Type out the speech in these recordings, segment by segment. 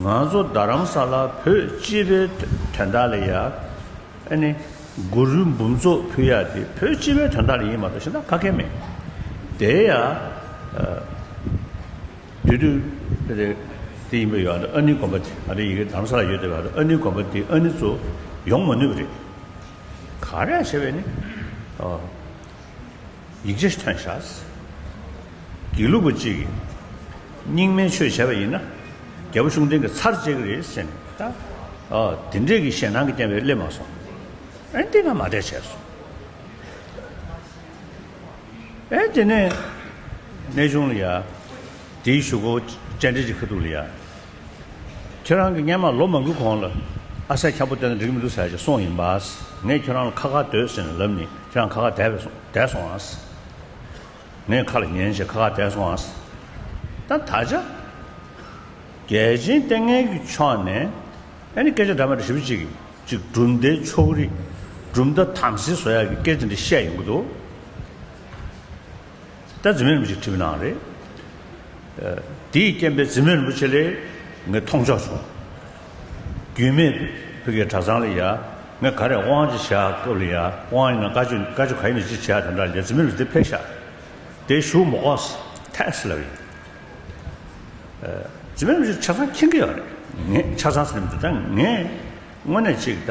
ང་ཚོ་རྡ་རམ་ས་ལ་བོད་སྤྱི་པའི་དོན་དག་ལ་ཡང། ནི། མགོ་རུལ་འབུམ་ཚོགས་ཕུལ་ཡག་འདི་བོད་སྤྱི་པའི་དོན་དག་ལ་ཡིན་མ་གཏོགས་ཤེས་ན་ཕ་གི་མེད། དེ་ཡང། དུས་དུས། དེ་ཡིན་པའི་ཡོད་ཨ་ནི་དགོན་པ་དེ་ཨ་རི་ཡི་གེ་རྡ་རམ་ས་ལ་ཡོད་དེ་ཨ་ནི་དགོན་པ་དེ་ཨ་ནི་ཚོ་ཡོང་མ་ནུས་པ་རེད། ག་རེ་ཡང་བྱས་པས་ནི། ཡིག་ཆ་ཐོན་བཞག། དགེ་ལུགས་པ་གཅིག་གིས་རྙིང་མའི་ཆོས་བྱས་པ་ཡིན་ན། རྒྱལ་པོ་གཞུང་འབྲེལ་གྱི་ཚར་བཅད་ཀྱི་རེད་ཟེར་ནས་ད། དེ་འདྲས་ཀྱི་ཞེད་སྣང་གིས་བསྟན་པའི་སླེབས་མ་སོང། ཨེ་འདི་ང་མ་བསྡད་བྱས་སོང། ཨེ་དེ་ནས་གནས་ཆུང་ལ་ཡ། དེའི་ཞུ་སྒོ་བཅད་འབྲེལ་གྱི་ཁ་ཐུག་ལ་ཡ། ཁྱོད་རང་གི་སྙན་མར་ལོ་མང་པོའི་གོང་ལ། ཨ་སྲས་འཁྱམས་པོ་དེ་དང་འགྲིག་མི་འདུག་ཟེར་གྱི་སོང་ཡིན་པ། ངས་ཁྱོད་རང་ལ་ཁ་ཁ་སྡོད་ཟེར་ནས་ལབ་ནས་ཁྱོད་རང་ཁ་ཁ་དེད་བས་སོང་དེད་སོང་ཨང། ངས་ཁ་ལ་ཉན་བྱས་ཁ་ཁ་དེད་སོང་ཨང། ད་ད་ཆ། རྒྱལ་ཆེན་ལྟས་ངན་གྱི་ཕྱོགས་ནས། ཨ་ནི་སྐད་ཆ་འདྲ་མ་འདྲ་ཞིབ་ཅིག་ཅིག་གྲུབ་མཐའི་ཕྱོགས་རིས། གྲུབ་མཐའ་དམ་སྲི་བཟོ་ཡག་གི་སྐད་ཆ་འདི་བཤད་ཡོང་གི་འདུག། ད་རྫི་མེད་རིན་པོ་ཆེ་ཁྲིམས་གནང་རེད། དེའི་རྐྱེན་པས་རྫི་མེད་རིན་པོ་ཆེ་ལས་ངས་མཐོང་ཆོག་བྱུང། རྒྱུས་མེད་བོད་དགེ་གྲྭ་ཚང་ལ་ཡ་ངས་ག་རེ་དབང་ཅིག་བྱ་སྐབས་ལ་ཡ་དབང་ཡིན་ན་དཀའ་སྤྱོད་དཀའ་སྤྱོད་ག་ཡིན་ན་ཅིག་བྱས་དེ་འདྲ་ལས་རྫི་མེད་རིན་པོ་ཆེ་ཕེབས་ཤག་དེ་བཞུགས་མོ་ཨོ་ཐེངས་ལབ་ཡིན། རྫི་མེད་རིན་པོ་ཆེ་ཆ་ཚང་མཁྱེན་གི་ཡོད་རེད། ངས་ཆ་ཚང་ཟེར་ནས་མི་འདུག་ད་ངས་དངོས་གནས་ཅིག་ད།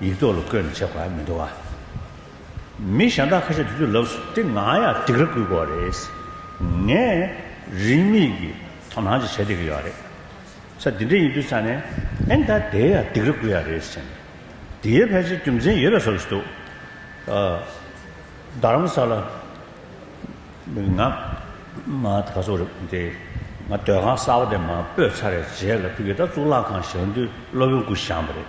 ཡིག་ཐོག་ལ་བཀོད་ནས་བྱེད་དགོས་ཨ་མི་འདུག་ཨ། མི་གཞན་དག་ཁ་ཤས་དེ་ཚོའི་ལབས་སུ་དེ་ང་ཡང་སྡིག་ར་བསྐུལ་དགོས་རེད། ངས་རིན་མེད་ཀྱི་དོ་སྣང་ཅིག་བྱེད་བསྡད་ཀྱི་ཡོད་རེད། ས་འདི་འདྲ་ཡིན་དུས་ཚར་ནས་ཨེ་མདའ་དེའི་ཡང་སྡིག་ར་བསྐུལ་ཡ་རེད་ཟེར་ནས། དེའི་ཕལ་ཆེར་རྒྱུ་མཚན་ཡོད་པའི་བཟོ་བྱེད་འདུག་ཨ། རྡ་རམ་ས་ལ། ང། མ་ག་ཚོགས་རེད་དེ། ང་སྡོད་ཁང་གསར་བ་དེ་མ་སྤོས་ཚར་བའི་རྗེས་ལ་ཕི་ཀི་ད་གཙུག་ལག་ཁང་ཞག་འདུས་སློབ་ཡོན་སྐུ་བཞག་པ་རེད།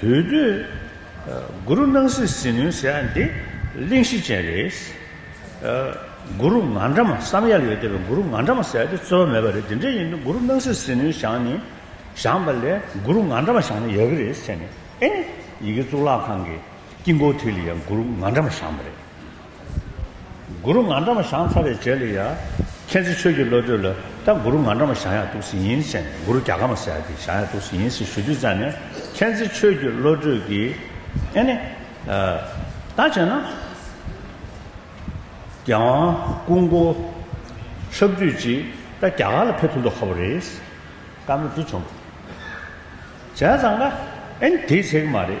དུས་བསྟུན་གུ་རུ་སྣང་སྲིད་ཟིལ་གནོན་ཟེར་ཡ་འདི་གླེང་གཞི་ཅན་རེད། གུ་རུ་ང་འདྲ་མ་བསམ་ཡ་ལ་ཡོད་དེ་བས་གུ་རུ་ང་འདྲ་མ་ཟེར་ཡ་དེ་རྩོལ་བ་མེད་པ་རེད་དེ་འདྲ་ཡིན་དུས་གུ་རུ་སྣང་སྲིད་ཟིལ་གནོན་བཞག་ནི་བཞག་པ་ལས་གུ་རུ་ང་འདྲ་མ་བཞག་ན་ཡག་གི་རེད་ཟེར་ནས་ཨེ་ཡི་གེ་གཙུག་ལག་ཁང་གི་དཀྱིལ་འཁོར་དུས་ལ་ཡང་གུ་རུ་ང་འདྲ་མ་བཞག་པ་རེད། གུ་རུ་ང་འདྲ་མོ་ཞང་ཚ་བའི་རྗེས་ལ་ཡ། མཁྱེན་བརྩེ་ཆོས་ཀྱི་བློ་གྲོས་ལ། ད་གུ་རུ་ང་འདྲ་མོ་ཞང་ཡག་ཐུགས་སུ་ཡིན་ཟེར་ནས་གུ་རུ་རྒྱ་གར་མ་ཟེར་ཏེ་ཞང་ཡག་ཐུགས་སུ་ཡིན་ཟེར་ཞུ་དུས་བཙལ་ནས་མཁྱེན་བརྩེ་ཆོས་ཀྱི་བློ་གྲོས་ཀྱིས། ཨེ་ནི། ད་བྱས་ན། རྒྱལ་དབང་སྐུ་འགོ། ཆབ་བདུད་ཀྱིས་ད་རྒྱ་གར་ལ་ཕེབས་ཐུབ་ཐུབ་ཁ་བོ་རེད། བཀའ་མོལ་འདི་བྱུང། བྱས་ཙང་ཀ། ཨེ་ནི་དེའི་ཚེ་གི་མ་རེད།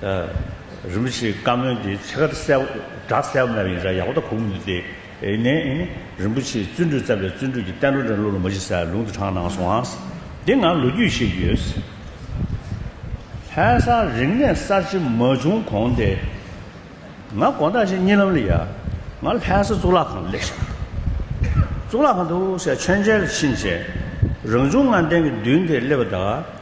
རིན་པོ་ཆེའི་བཀའ་མོལ་འདི་ཚེ་དཀར་གསལ་བསྒྲགས་གསལ་བོ་མེད་པ་ཡིན་ས་ཡག་པོ་ད་གོ་མི་འདུག་སྟེ། ནས། རིན་པོ་ཆེས་བརྩོན་འགྲུས་བརྩམས་པའི་བརྩོན་འགྲུས་ཀྱི་བསྟན་འགྲོ་འདྲ་བློ་ལ་མ་གཞི་སའི་ལུང་དུ་དྲངས་གནང་སོང་ཨང། འདི་ང་ལོ་རྒྱུས་ཤེས་ཀྱི་ཡོད། ལྷན་སར་རིག་གནས་གསར་བརྗེ་མ་བྱུང་གོང་སྟེ། ང་དགོང་དག་ཅིག་གཉིད་ལམ་ལ་ཡ། ང་ལྷན་ས་གཙུག་ལག་ཁང་ལས་ཤར། གཙུག་ལག་ཁང་དུ་ཤ་མཆན་མཆན་ལ་ཕྱིན་རྗེས། རང་བྱུང་ངང་སྟེང་གི་མདུན་དེར་སླེབས་པ་དང།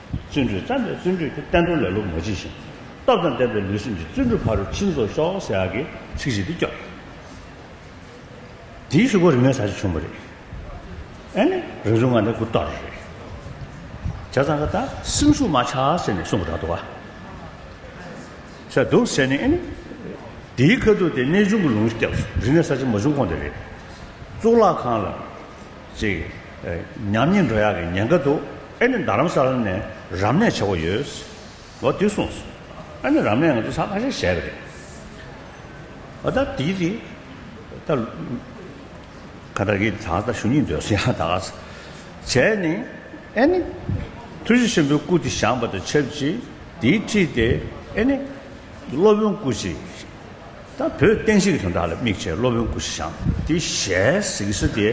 བརྩོན་འགྲུས་བརྩམས་པས་བརྩོན་འགྲུས་ཀྱི་བསྟན་འགྲོ་ལེ་ལོ་མ་བགྱིས་ཤིང། སྟོབས་དང་ལྡན་པའི་ལུས་སེམས་ཀྱི་བརྩོན་འགྲུས་ཕ་རོལ་ཕྱིན་རྫོགས་ཤོག་ཟེར་ཡག་གི་ཚིག་ཞིག་འདི་སྐྱོ། དེའི་ཤུགས་པ་རིག་མའི་ས་ཆ་ཆུང་བ་རེད། ཨེ་ནི་རང་བྱུང་ངང་ནས་གུ་དོག་རེད། བྱ་ཙང་ཁ་ད་སེམས་ཤུགས་མ་ཆག་ཟེར་ནས་གསུངས་པ་རག་འདུག་ཨ། ཟེར་འདུག་ཟེར་ནས་ཨེ་ནི། དེའི་ཁ་ཐུག་དེ་གནས་ཆུང་གི་ལུང་སྐྱབས་སུ་རིག་གནས་ས་ཆ་མ་བྱུང་གོང་དེ་རེད། གཙུག་ལག་ཁང་ལ། ཅིག། ཉམས་ཉེས་འགྲོ་ཡག་གི་ཉེན་ཁ་འདུག་ཨེ་ནི་རྡ་རམ་ས་ལ་ནས་རབ་གནས་བྱེད་དགོས་ཡོད། ཨོ་དེ་གསུངས་སོང། ཨ་ནི་རབ་གནས་ང་ཚོ་ས་ཁ་ཤས་ཞལ་གི་རེད། ཨོ་ད་དེའི་རིགས། ད། ཁ་ད་གིས་ད་ད་ཞུ་སྙིང་འདོད་སོང་ཡང་དག་ས། བྱས་ནི། ཨེ་ནི། ཐུགས་རྗེ་ཆེན་པོའི་སྐུ་དེ་བཞེངས་པ་དང་ཆབས་ཅིག་དེའི་ཁྲིད་དེ་ཨེ་ནི། སློབ་དཔོན་སྐུ་ཞིག། ད་བོད་བསྟན་བཤིག་དོན་དག་ལ་དམིགས་བྱས་སློབ་དཔོན་སྐུ་ཞི་ཞང་དེ་ཞལ་གཟིགས་སུ་དེ་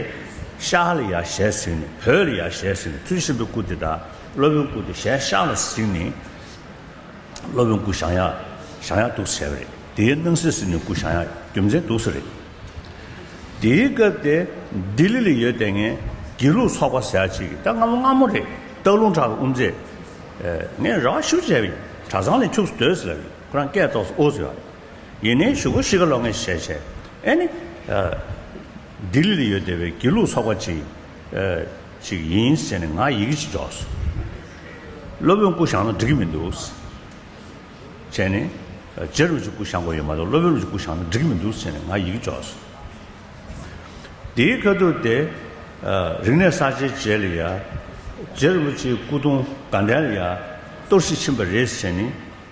ཤག་ལ་ཡར་ཞལ་གཟིགས་ནས་བོད་ལ་ཡར་ཞལ་གཟིགས་ནས་ཚུལ་བཞིན་དུ་སྐུ་དེ་དག་སློབ་དཔོན་སྐུ་དེ་ཞལ་ཤག་ལ་གཟིགས་ནས་སློབ་དཔོན་སྐུ་ཞང་ཡག་ཞང་ཡག་འདུག་ཟེར་བ་རེད་དེའི་སྣང་སྲིད་ཟིན་ནས་སྐུ་ཞང་ཡག་རྒྱུ་མཚན་འདུག་ཟེར་རེད། དེའི་སྐབས་དེ་ལྡི་ལི་ལ་ཡོད་དེ་ངས་དགེ་ལུགས་ཚོགས་པ་ཟེར་གཅིག་གིས་ད་སྔ་མོ་སྔ་མོ་རེད་སྟག་ལུང་བྲག་ལ་དབུ་མཛད། ངས་ར་བ་ཤུར་བྱས་པ་ཡིན་གྲྭ་ཚང་ལས་འཁྱུགས་སུ་སྡོད་ཟེར་ལབ་ཡིན་ཁོ་རང་སྐད་ཏོག་སོ་ཨོ་ཟེར་བ། ཡིན་ནའི་ཞུ་གོ་ཤི་ཀ་ལོ་ངས་བཤད་བྱས་ཨེ་ནི། ལྡི་ལི་ལ་ཡོད་བསྡད་པའི་དགེ་ལུགས་ཚོགས་པ་ཅིག་ཅིག་ཡིན་ཟེར་ནས་ང་ཡི་གེ་ཅིག་འཇོག་སོང། སློབ་དཔོན་སྐུ་བཞག་ན་འགྲིག་གི་མི་འདུག་བྱས་ནས། རྗེ་རུ་ཅིག་སྐུ་བཞག་དགོས་ཡོད་མ་གཏོགས་སློབ་དཔོན་རུ་ཅིག་སྐུ་བཞག་ན་འགྲིག་གི་མི་འདུག་ཟེར་ནས་ང་ཡི་གེ་འཇོག་སོང། དེའི་ཁ་ཐུག་དེ། རིག་གནས་གསར་བརྗེའི་རྗེས་ལ་ཡ། རྗེ་རུ་ཅིག་སྐུ་གདུང་དགའ་ལྡན་ལ་ཡ། གཏོར་བཤིག་ཕྱིན་པ་རེད་ཟེར་ནས།